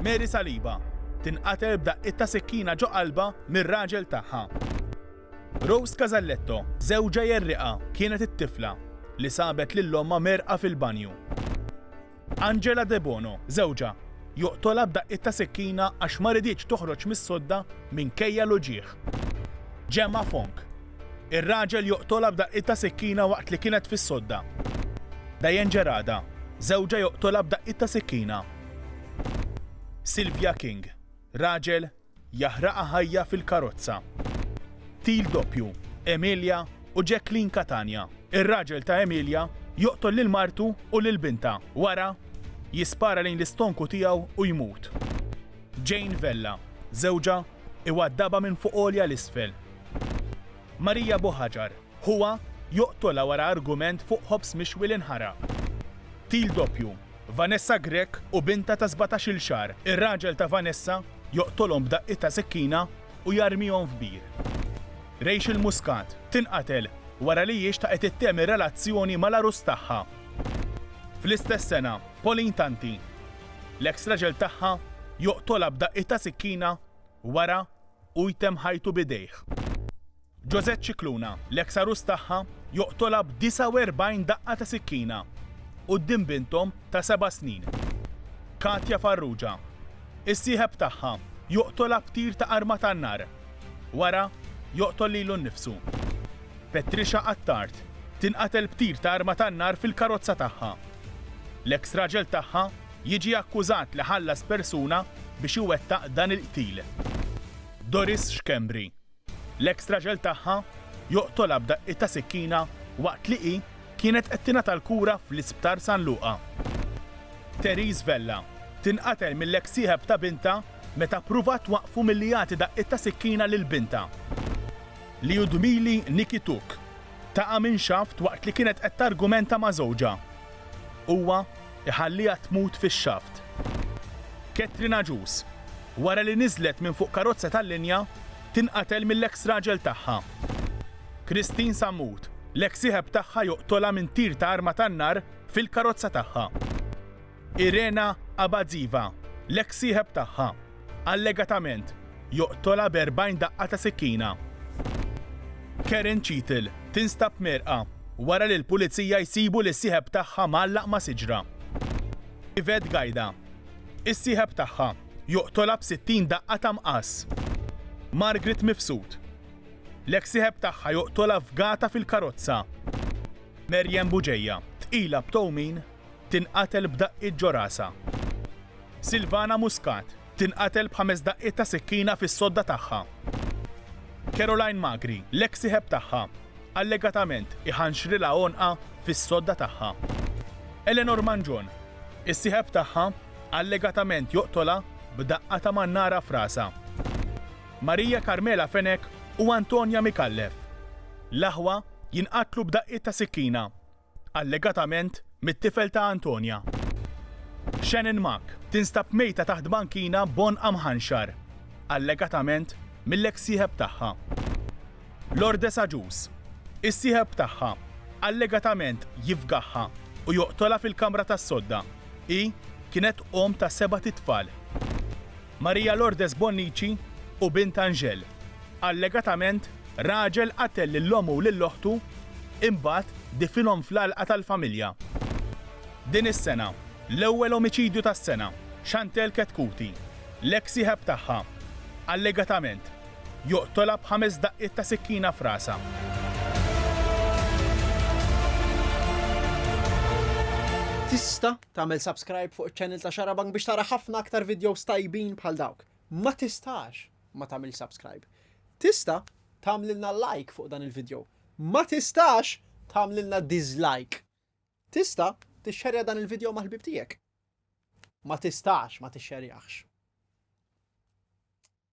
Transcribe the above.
Mary Saliba tinqatel b'daqqiet ta' sikkina ġo qalbha mir-raġel tagħha. Rose Casalletto, żewġha jerriqha kienet it-tifla li sabet lil ommha mgħerrqa fil-banju. Angela Debono, żewġha joqtolha b'daqqiet ta' sikkina għax ma riditx toħroġ mis-sodda minkejja l-uġigħ. Gemma Fong, ir-raġel joqtolha b'daqqiet ta' sikkina waqt li kienet fis-sodda. Diane Gerada, żewġha joqtolha b'daqqiet ta' sikkina. Sylvia King, Raġel jaħraqha ħajja fil-karozza. Qtil doppju, Emilia u Jacqueline Catania. Ir-raġel ta' Emilia joqtol lil martu u lil bintha, wara jispara lejn l-istonku tiegħu u jmut. Jane Vella, Żewġha iwaddabha minn fuq għolja 'l isfel. Maria Buhagiar, Ħuha joqtolha wara argument fuq ħobż mixwi li nħaraq. Qtil doppju, Vanessa Grech u bintha ta' sbatax-il xahar. Ir-raġel ta' Vanessa joqtolhom b'daqqiet ta' sikkina u jarmihom f'bir. Rachel Muscat tinqatel wara li hi xtaqet ittemm ir-relazzjoni mal-għarus tagħha. Fl-istess sena, Pauline Tanti, l-eks raġel tagħha joqtolha b'daqqiet ta' sikkina wara u jtemm ħajtu b'idejh. José Scicluna, l-eks għarus tagħha, joqtolha b' 49 daqqa ta' sikkina quddiem binthom ta' seba' snin, Katia Farrugia. Is-sieħeb tagħha joqtolha b' tir ta' arma tan-nar. Wara, joqtol lilu nnifsu. Patricia Attard tinqatel b' tir ta' arma tan-nar fil-karozza tagħha. L-eks raġel tagħha jiġi akkużat li ħallas persuna biex iwettaq dan il-qtil. Doris Schembri, L-eks raġel tagħha joqtolha b'daqqiet ta' sikkina waqt li hi kienet qed tingħata l-kura fl-Isptar San Luqa. Therese Vella tinqatel mill-eks sieħeb ta' bintha meta ppruvat twaqqfu milli jagħti daqqiet ta' sikkina lil bintha. Lyudmyly Nikityuk taqa' minn xaft waqt li kienet qed targumenta ma' żewġha Huwa jħalliha tmut fix-xaft. Catherine Agius, wara li niżlet minn fuq karozza tal-linja, tinqatel mill-eks raġel tagħha. Christine Sammut, l-eks sieħeb tagħha joqtolha minn tir ta' arma tan-nar fil-karozza tagħha. Irena Abadziva, l-eks sieħeb tagħha, Allegatament, joqtolha b'erbgħin daqqa ta' sikkina. Karen Cheatle tinstab mierqa wara li l-Pulizija jsibu lis-sieħeb tagħha mgħallaq ma' siġra. Yvette Gajda, is-sieħeb tagħha, joqtolha b'60 daqqa ta' mqas. Margaret Mifsud, l-eks sieħeb tagħha joqtolha f'gata fil-karozza. Maryanne Bugeja, tqila b'towmin tinqatel b'daqqiet ġo rasha. Silvana Muscat tinqatel b'ħames daqqiet ta' sikkina fis-sodda tagħha. Caroline Magri, l-eks sieħeb tagħha, allegatament iħanxrilha għonqha fis-sodda tagħha. Eleanor Mangion, is-sieħeb tagħha, allegatament joqtolha b'daqqa ta' mannara f'rasha. Maria Carmela Fenech u Antonia Micallef, l-aħwa jinqatlu b'daqqiet ta' sikkina. allegatament mit-tifel ta' Antonia. Shannon Mak tinstab mejta taħt bankina b'għonqha mħanxar, allegatament mill-eks sieħeb tagħha. Lourdes Agius, is-sieħeb tagħha, allegatament jifgaħha u joqtolha fil-kamra tas-sodda, hi kienet omm ta' sebat itfal. Maria Lourdes Bonnici u bint Angel. Allegatament, raġel qatel lil ommu u lil oħtu imbagħad difinhom fl-għalqa tal-familja. Din is-sena, l-ewwel omiċidju tas-sena, Chantelle Chetcuti, l-eks sieħeb tagħha, allegatament, joqtolha b'ħames daqqiet ta' sikkina f'rasha. Tista' Tagħmel subscribe fuq iċ-channel ta' Xarabank biex tara ħafna aktar videos tajbin bħal dawk. Ma tistax ma tagħmel subscribe. Tista' tagħmlilna like fuq dan il-video. Ma tistax tagħmlilna dislike. Tista' tixxerja dan il-video mal-ħbib tiegħek. Ma tistax ma tixxerjaħx.